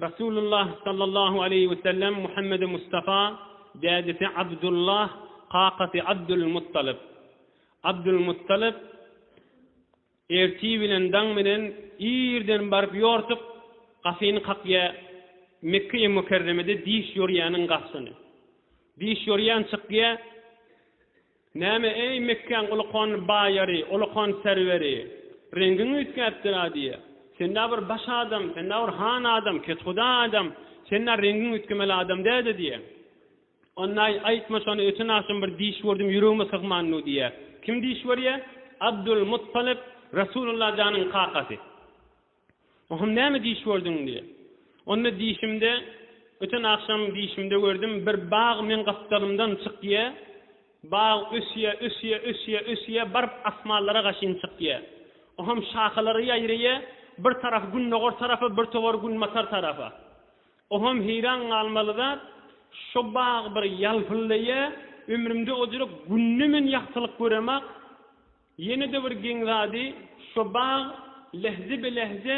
Resulullah sallallahu aleýhi we sellem Muhammedi Mustafa, dädesi Abdullah, kakasy Abdulmuttalyp. Abdulmuttalyp ertir bilen daň bilen irden baryp ýortuk gapyny kakýa Mekge-i Mükerremede diş ýorýäniň garşyny. Diş ýorýan çykýa. Näme, eý, Mekgäň uly-kony baýary, uly-kony serweri, reňgiň üýtgäpdir-ä diýýä. Sen-ä bir baş adam, sen-ä bir han adam, kethuda adam, sen-ä reňgiň üýtgemeli adam däde diýýä. Onda-aý, aýtma şony, öten agşam bir diş gördüm, ýüregime sygman nu diýýä. Kim diş görýä? Abdul Muttalyp, Resulullah janyň kakasy. Ohm näme diş gördüň diýýär. Onda dişimde öten agşam dişimde gördüm bir bag meň gapdalymdan çykýar. Bag ösýär ösýär ösýär ösýär baryp asmanlara gaşyn çykýar. Ohm şahalary ýaýraýar bir tarap gündogar tarapa bir towar günbatar tarapa. Ohm heýran galmaly zat şo bag bir ýalpyldaýar ömrümde ojyrk günde men ýagtylyk göremok Ýene-de bir geň zady, şo bag lehze-belehze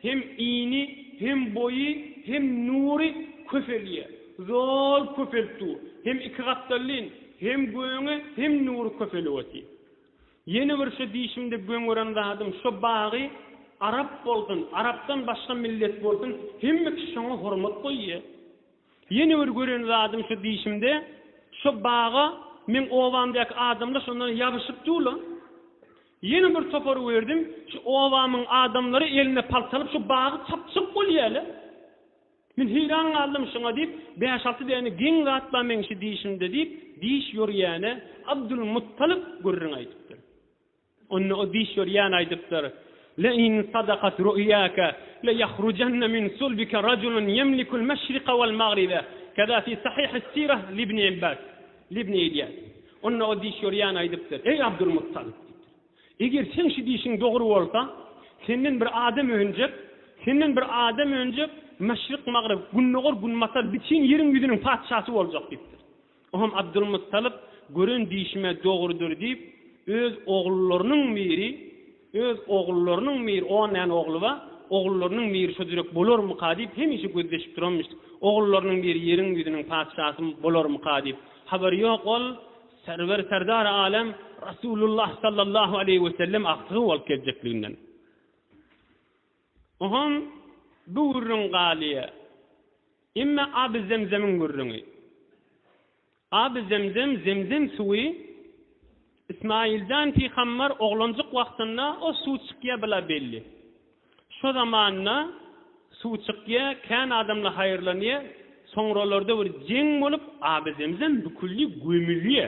hem ini, hem boýy, hem nury köpelýär. Zol köpelip dur. Hem iki gapdallyn, hem göni, hem nury köpelip otyr. Ýene bir şo diýşimde geň gören zadym, şo bagy arap bolsun, arapdan başga millet bolsun, hemme kişi şoňa hormat goýýar. Ýene bir gören zadym şu dişimde şo baga meň obamdaky adamlar şondan ýabyşyp dur-la. Ýene bir topar gördüm, şu obamyň adamlary elinde palta alyp şo bagy çapjak bolýarlar. Men heýran galdym şoňa diýip, bäş-alty däne geň zat bar meň şu dişimde diýip, diş ýorýäne Abdulmuttalip gürrüň aýdypdyr. Onda o diş örýän aýdypdyr, Le in sadakat ru'yaka le yahrujanna min sulbika rajulun yemlikul meşrika wal magriba, keza fi sahihis sirah li ibni Abbas, li ibni Ilýas. Onda o diş örýän aýdypdyr, Eý Abdulmuttalyp! diýipdir. Eger seň şu diýşiň dogry bolsa, senden bir adam önjek, senden bir adam önjek, meşrik-magryp, gündogar-günbatar bütin ýeriň ýüzüniň patyşasy boljak diýipdir. O hem Abdylmuttalyp gören dişime dogrudyr diýip, öz ogullarynyň miri, öz ogullarynyň miri, on däne ogly bar, ogullarynyň miri şo jürek bolarmyka diýip, hemişe gözleşip duranmyş. Ogullarynyň biri ýeriň ýüzüniň patyşasy bolarmyka diýip. Habary ýok, ol serwer serdary alem Rasulullah sallallahu aleýhi wesellem agtygy bolup geljekliginden. Bu hem bu gürrüň galýa. Emme Aby Zemzemiň gürrüňi. Aby Zemzem, Zemzem suwy, Ismailjan pygambar oglanjyk wagtynda o suw çykýa bila belli. Şo zamanda suw çykýa, kän adamla haýyrlanýa, soňralarda bir jeň bolup Aby Zemzem büküldi, gömülýä.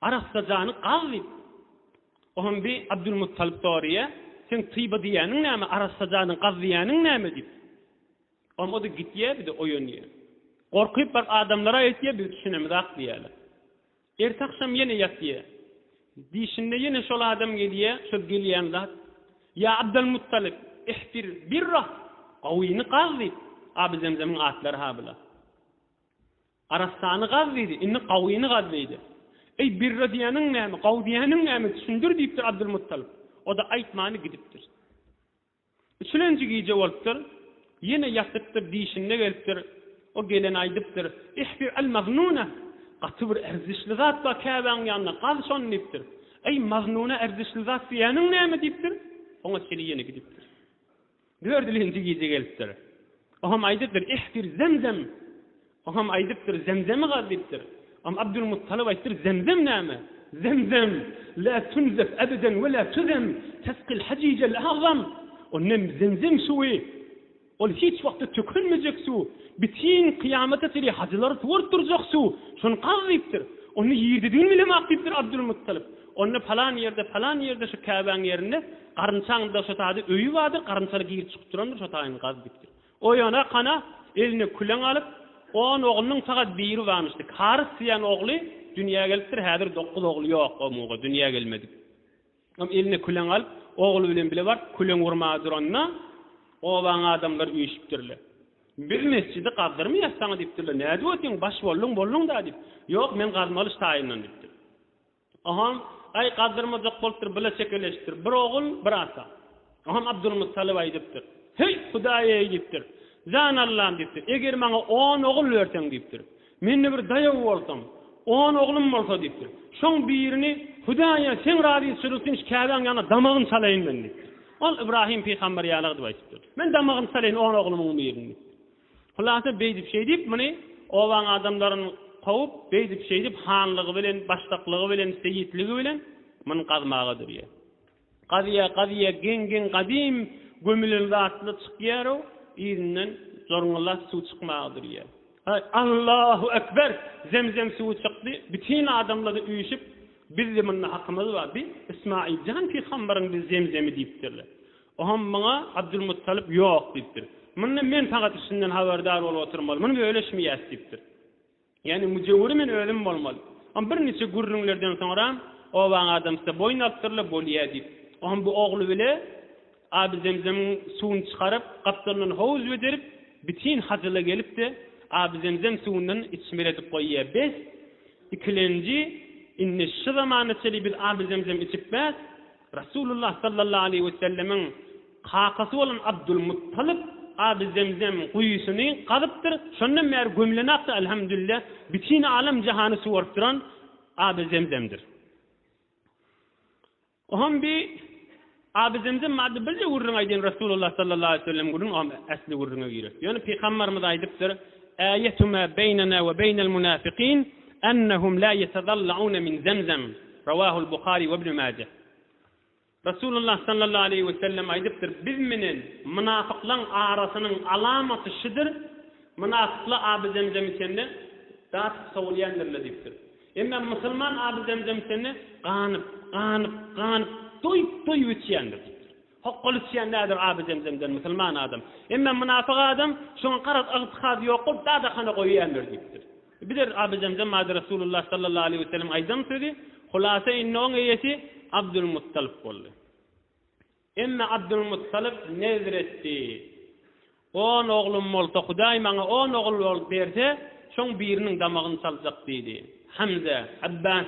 Arassa jany gaz diýip, Ohan bi Abdulmuttalyp soraýa, Seň tyba diýýäniň näme, arassa janyň gaz diýýäniň näme diýip. Ohan o-da gitýä, bir-de oýanýa. Gorkup bir adamlara aýtýa, biz düşünemizak diýýäler. Ertagşam ýene ýatýa. Dişinde ýene şol adam gelýä, şol gelýän zat, Ýa Abdulmuttalyp, ihbir birra, gowyny gaz diýip, Abyzemzemiň atlary-ha bular. Arassany gaz diýdi, indi gawyny gaz diýdi. Eý, birre diýeniň näme, gawy diýeniň näme, düşündir diýipdir Abdylmuttalyp. O-da aýtmany gidipdir. Üçülenji gije bolupdyr, ýene ýatypdyr, diýşinde gelipdir. O gelene aýdypdyr, Ihbir al-maznuna, gaty bir erzişli zat bar Käbäň ýanynda, gaz şony diýipdir. Eý, maznuna erzişli zat diýeniň näme diýipdir. Soň-a çili ýene gidipdir. Dördülinji gije gelipdir. Oňam aýdypdyr, Ihbir Zemzem! Oňam aýdypdyr, Zemzemi gaz diýipdir. Oňam Abdulmuttalyp aýtdyr, Zemzem näme? Zemzem, lä tunzef ebeden we lä tuzem, tesqil hajijel agzam! Onnem Zemzem suwy, ol hiç wagtda tökülmejek suw, bitin kyýamata çenli hajylary suwaryp durjak suw, şony gaz diýipdir. Ony ýirdidin bilemok diýipdir Abdulmuttalyp. Onda palan ýerde, palan ýerde şu käbäň ýerinde garynçaň dagşatady öýi bardyr, garynçaly girip çykyp durandyr, şo taýyny gaz diýipdir. Oýana kana, eline küleň alyp, on oglunyň sagat biri barmyşdy. Karys diýen ogly dünýä gelipdir, häzir dokuz ogly ýok o muga, dünýä gelmedik. Şom eline küleň alyp, ogly bilen bile baryp küleň urmaga duranda, obaň adamlary üýşüpdirler. Biz mesjidi gazdyrmaýas saňa diýipdirler. Nädip otyň, baş bolduň, bolduň-da diýip. Ýok, men gazmaly şu taýyndan diýipdir. Oňam, Aý, gazdyrmajak bolupdyr, bile çekeleşipdir. Bir ogul, bir ata. Oňam Abdulmuttalyp aýdypdyr. Heý, Hudaý-eý! diýipdir. Jan Allam! diýipdir. Eger maňa on ogul berseň, diýipdir. Mende bir daýaw bolsam, on oglum bolsa, diýipdir. Şoň birini Hudaýa seň razyçylygyň üçin Käbäň ýanyna damagyn çalaýyn men, diýipdir. Ol Ybrahym pygamber ýaly gydyp aýdypdyr. Men damagyn çalaýyn on oglumyň birini. Hulasa beýdip-şeýdip muny obaň adamlaryn kowup, beýdip-şeýdip hanlygy bilen, başdaklygy bilen, seýitligi bilen muny gazmaga durýar. Gazýar, gazýar, geň-geň gadym gömülen zatly çykýar-ow, yzyndan jorňullap suw çykmaga durýar. Haý, Allahu ekber! Zemzem suwy çykdy, bütin adamlary üýşüp, Bizdi munda hakymyz bar, bi Ysmaýyl jan pygambaryň bi zemzemi diýipdirler. Oňam muňa Abdulmuttalyp Ýok! diýipdir. Munda men pagat işinden habardar bolup oturmaly. Muny bölüşmeýäs diýipdir. Ýagny müjewüri men özüm bolmaly. Oňam bir niçe gürrüňlerden soňra obaň adamsy-da boýun alypdyr-la, Bolýa diýip. Oňam bu ogly bile Aby Zemzemiň suwuny çykaryp, gapdalyndan howuz bederip, bitin hazyla gelip-de, Aby Zemzem suwundan içmeli edip goýýa. Bes, ikilenji, indi şu zamana çenli biz Aby Zemzem içipmez. Resulullah sallallahu aleýhi we sellemiň kakasy bolan Abdul Muttalib Abu Zemzem guýusyny gazypdyr. Şondan bäri gömülen akdy Alhamdulilla bütin alem jahany suwaryp duran Abu Zemzemdir. Ohm bi Abu Zemzem barada birje gürrüň aýdyn Resulullah sallallahu aleýhi we sellem gürrüň ohm ähli gürrüňe girer. Ýöne pygambarymyz aýdypdyr, Äýetu ma beýnena we beýnel munafikin ennehum la ýetazallawna min Zemzem. Rawahul Buhari we Ibn Maje. Resulullah sallallahu aleýhi we sellem aýdypdyr, Biz menen mynafyklaň arasynyň alamaty şudur, Mynafyklar Aby Zemzem içende, datyp sowulýandirler diýipdir. Emma musulman Aby Zemzem içende, ganyp, ganyp, ganyp, doýup-doýup içýändir diýipdir. Hokgal içýän nädir Abi Zemzemden musulman adam. Emme mynafyk adam şoňa garaz ygtykady ýok bolup dadahana goýýandyr diýipdir. Bider Abi Zemzem bady Resulullah sallallahu aleýhi weselem aýdan sözi hulasa indi oň eýesi Abdul Muttalyp boldy. Emme Abdul Muttalyp nezr etdi. On oglum bolsa, Hudaý maňa on ogul bolup berse, şoň biriniň damagyny çaljak diýdi. Hamza, Abbas,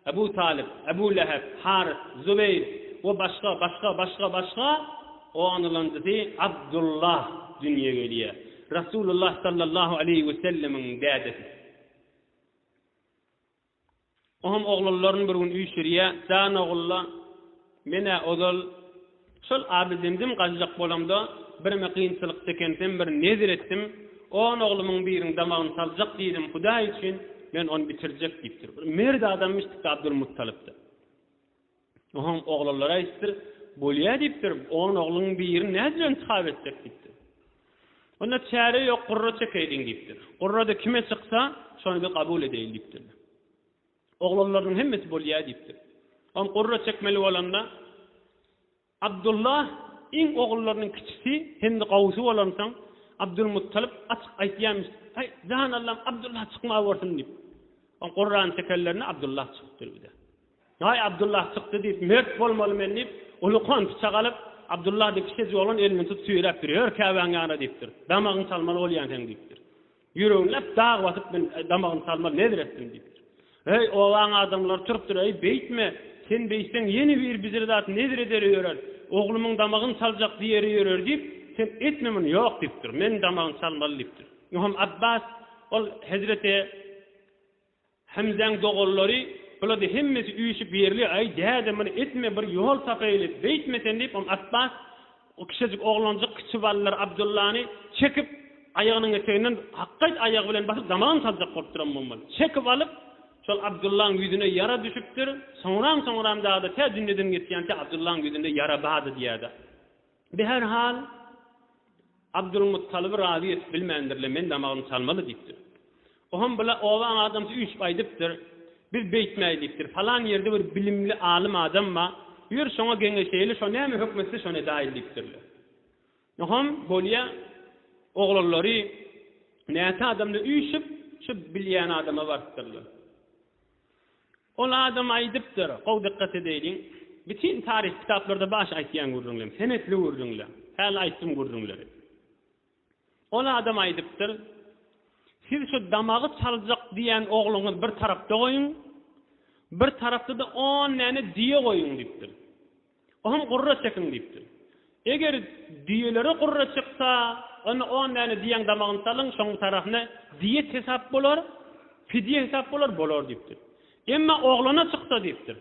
Abu Talyp, Abu Lähep, Harys, Zubeýr we başga, başga, başga, başga, onulanjysy Abdullah dünýä gelýär. Rasulullah sallallahu aleýhi wesellemiň dädesi. Oňam oglanlaryny bir gün üýşürýä, Jan ogul-la, men-ä ozal şol Abydemdim gaçjak bolamda, birme kynçylyk çekensem, bir nezir etdim, on oglumyň birini damagyny saljak diýdim, Hudaý üçin, men ony bitirjek diýipdir. Bir mert adamymyş dikde Abdulmuttalyp-da. Soň oglanlara aýdypdyr, Bolýa diýipdir, on ogluň birini nädip bilen çap etjek diýipdir. Onda çäre ýok, gurra çekeýliň diýipdir. Gurrada kime çyksa, şony biz kabul edeýin diýipdir. Oglanlarynyň hemmesi bolýa diýipdir. Soň gurra çekmeli bolanda Abdulla iň ogullarynyň kiçisi hem-de gowusy bolansoň, Abdulmuttalyp açyk aýtýarmyş, Aý, jan Allam, Abdulla çykma borsun diýip. Soň gurrany çekenlerinde Abdulla çykypdyr bir-de. Daýy Abdullah çykdy diýip, mert bolmaly men diýip, ulukan pyçak alyp, Abdullah diýip, kişejik oglan elini tutup süýräp dur, ýör käbäň ýanyna diýipdir. Damagyny salmaly bolýan sen diýipdir. Ýüregini läp dag basyp, men damagyny salmaly nezir etdim diýipdir. Heý, obaň adamlary turupdyr, eý, beýtme, sen beýtseň ýene bir bijir zat nezir ederi ýörer, oglumyň damagyny saljak diýeri ýörer diýip, sen etme muny, ýok diýipdir, men damagyny salmaly diýipdir. Ýoham Abbas ol hezreti. Hemzäň doganlary, Bulady hemmesi üýşüp ýerli, aý, däde, muny etme, bir ýol tapaýly, beýtme sen diýip, oň Apbas, o kiçejik oglanjyk kiçi ballary Abdullany çekip, aýagynyň eteginden hakgaýt aýagy bilen basyp, damagyny saljak bolupdyram bolmaly. Çekip alyp, şol Abdullaň ýüzüne ýara düşüpdir. Soňram-soňram dagda tä dünýeden geçýän, tä Abdullaň ýüzünde ýara bardy diýýärdi. Bi her hal, Abdulmuttalyby razy edip bilmändirler, men damagym çalmaly diýipdir. Ohem bula obaň adamsy üýşüp aýdypdyr, Biz beýtmäý diýipdir, palan ýerde bir bilimli alym adam bar, ýör şoňa geňeşeýeli, şo näme hökm etse şony edäýeli diýipdirler. Ohem bolýa oglanlary näçe adamly üýşüp, şu bilýän adama barypdyrlar. Ol adam aýdypdyr, gowy dykgat edäýliň, Bütin taryhy kitaplarda baş aýtýan gürrüňlem, senetli gürrüňle. Häli aýtdym gürrüňleri. Ol adam aýdypdyr, Siz şu damagy çaljak diýen ogluňyzy bir tarapda goýuň, bir tarapda-da on däne düýe goýuň diýipdir. Oňam gurra çekiň diýipdir. Eger düýelere gurra çyksa, onda on däne düýäň damagyny salyň, şoň bitaryhasyna diýet hesap bolar, pidýe hesap bolar, bolar diýipdir. Emma oglana çyksa diýipdir,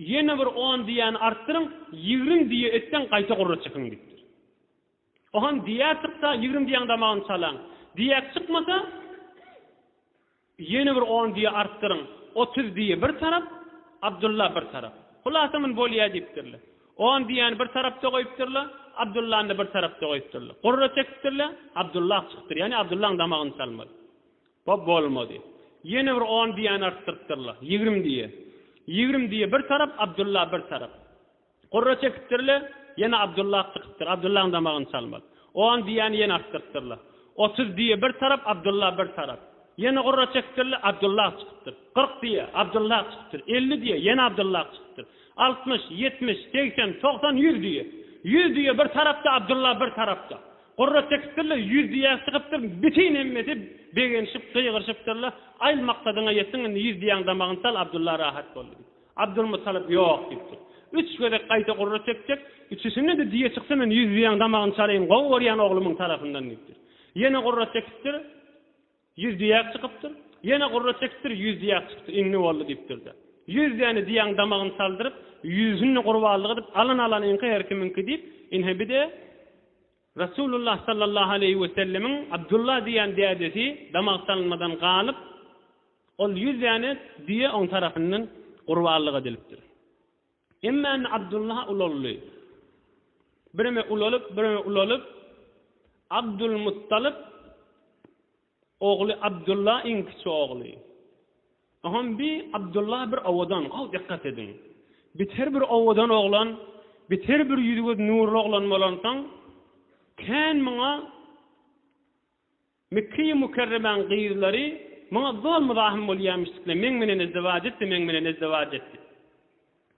ýene bir on düýäni artdyryň, ýigrin düýe etseň, gaýta gurra çekiň diýipdir. Ohan diýäk çyksa ýigrimi diýäň damagyny çalaň. Diýäk çykmasa ýene bir on diýe artdyryň. Otuz diýe bir tarap, Abdylla bir tarap. Hulasa muny bolýa diýipdirler. On diýäni bir tarapda goýupdyrlar, Abdyllany-da bir tarapda goýupdyrlar. Gurra çekipdirler, Abdylla çykdyr. Ýagny Abdyllaň damagyny çalmaly. Bu bolmady. Ýene bir on diýäni artdyrypdyrlar. Ýigrimi diýe. Ýigrimi diýe bir tarap, Abdylla bir tarap. Gurra çekipdir-le, ýene Abdullah çykypdyr. Abdullahyň damagyny çalmaly. On diýýäni ýene artdyrypdyrlar. Otuz diýýä bir tarap, Abdullah bir tarap. Ýene gurra çekipdir-le, Abdullah çykypdyr. Kyrk diýýä, Abdullah çykypdyr. Elli diýýä, ýene Abdullah çykypdyr. Altmyş, ýetmiş, segsen, togsan, ýüz diýýä. Ýüz diýýä bir tarapda, Abdullah bir tarapda. Gurra çekipdir-le, ýüz diýýä çykypdyr. Bütin hemmesi begenişip, gygyryşypdyrlar. Aýl maksadyňa ýetdiň, indi ýüz diýýäň damagyny çal, Abdullah rahat boldy diýip. Abdulmuttalyp ýok diýipdir. Üç gezek gaýta gurra çekjek, üçüsinde-de düýe çyksa men ýüz düýäň damagyny çalaýyn, gowy görýän oglumyň tarapyndan diýipdir. Ýene gurra çekipdir, ýüz düýäk çykypdyr. Ýene gurra çekipdir, ýüz düýäk çykypdyr. Indi boldy diýipdir-de, ýüz däne düýäň damagyny çaldyryp, ýüzüsini gurbanlyk edip, alan-alanyňky, her kimiňki diýip, ine bir-de, Resulullah sallallahu aleýhi wesellemiň Abdullah diýen dädesi damaksalynmadan galyp, ol ýüz däne düýe oň tarapyndan gurbanlyk edilipdir. Emma indi Abdullah ulaldy. Bireme ulalyp, bireme ulalyp, Abdulmuttalyp Ogly Abdylla iň kiçi ogly. Ogam bi Abdylla bir owadan, gowy dikkat ediň. Biter bir owadan oglan, biter bir ýüzi göz nurly oglan bolansoň, kän muňa Mekkeýi Mukerremäň gyzlary muňa zol muzahym bolýamyşdykle meň menen ezdewac etdi, meň menen ezdewac etdi.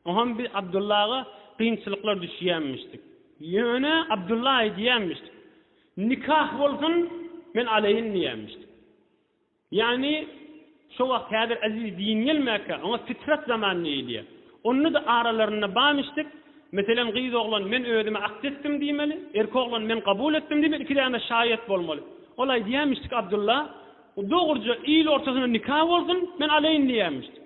Oňam biz Abdulla aga kynçylyklar düşýämişdik. Ýöne Abdulla aýdýamişdik, Nikah bolsun, men alaýyn diýämişdik. Ýagny şo wagt häzir Aziz din gelmäkä, oňa fitrat zaman diýilýär. Onda-da aralarynda barmyşdyk, meselem gyz oglan men özüme akt etdim diýmeli, erkek oglan men kabul etdim diýmeli, iki däne şaýat bolmaly. Ol aýdýamişdik Abdulla, Dogruja il ortasynda nikah bolsun, men alaýyn diýämişdik.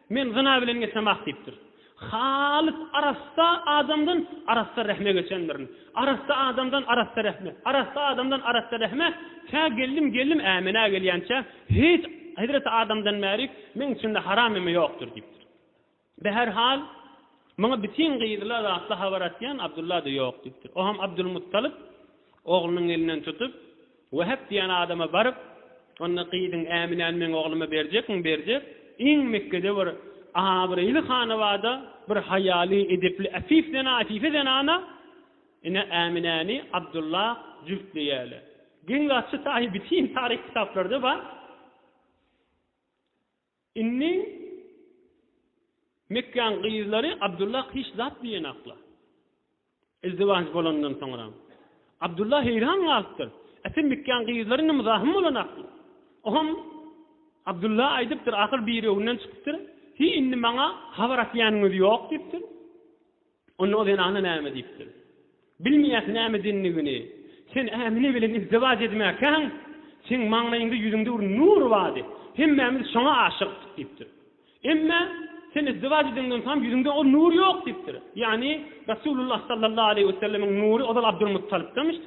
Men zyna bilen geçemok diýipdir. Halys arassa adamdan arassa rehme geçendirin. Arassa adamdan arassa rehme, arassa adamdan arassa rehme tä geldim geldim ämenä gelýänçä hiç hezreti adamdan bärik meň içimde haram eme ýokdur diýipdir. Be her hal maňa bitin gyzla zatly habar atýan Abdulla-da ýok diýipdir. Oham Abdulmuttalyp oglunyň elinden tutup. Wehep diýen adama baryp, onda gyzyň Äminäni meň ogluma berjekmiň, berjek, iň Mekgede bir abraýly hanabada bir haýaly, edepli, äfif zenan, äfife zenana, ine, Äminäni Abdulla jübtleýäle. Geň gaçy taýy bütin taryh kitaplarda bar. Indi Mekgäň gyzlary Abdullah hiç zat diýenaklar. Izdiwaj bolandan soňra Abdullah heýran galypdyr. Äse Mekgäň gyzlary indi muzahym bolanaklar. O hem Abdullah aýdypdyr, ahyr birewinden çykypdyr, Hiý, indi maňa habar atýanyňyz ýok diýipdir. Onda o zenana näme diýipdir? Bilmeýäs näme dindigini. Sen Ämine bilen izdiwaç edmäkäň, seň maňlaýyňda, ýüzüňde bir nur bardy. Hemmämiz şoňa aşykdyk diýipdir. Emma sen izdiwaç edeňden soňam ýüzüňde o nur ýok diýipdir. Ýagny Resulullah sallallahu aleýhi wesellemiň nury ozal Abdulmuttalypdanmyş.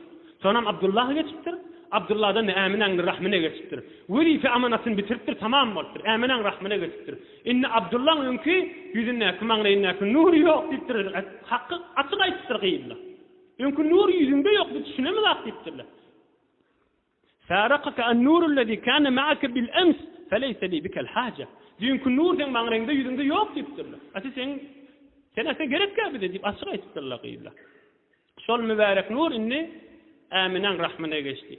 Soňam Abdullaha geçipdir. Abdullahdan-da Äminäň rahmyna geçipdir. Wezipe-amanatyny bitiripdir, tamam bolupdyr. Äminäň rahmyna geçipdir. Indi Abdullaň öňki ýüzündäki, maňlaýyndäki nury ýok diýipdir. Haky açyk aýdypdyr gyzlar. Öňki nur ýüzüňde ýok, biz düşünemizok diýipdirler. Farakaka an-nurullezî kâne ma'ake bil-ems, feleýse lî bikel haje. Düýnki nur seň maňlaýyňda, ýüzüňde ýok diýipdirler. Ate seň, sen ate gerekkä bize diýip açyk aýdypdyrlar gyzlar. Şol mübärek nur indi Äminäň rahmyna geçdi.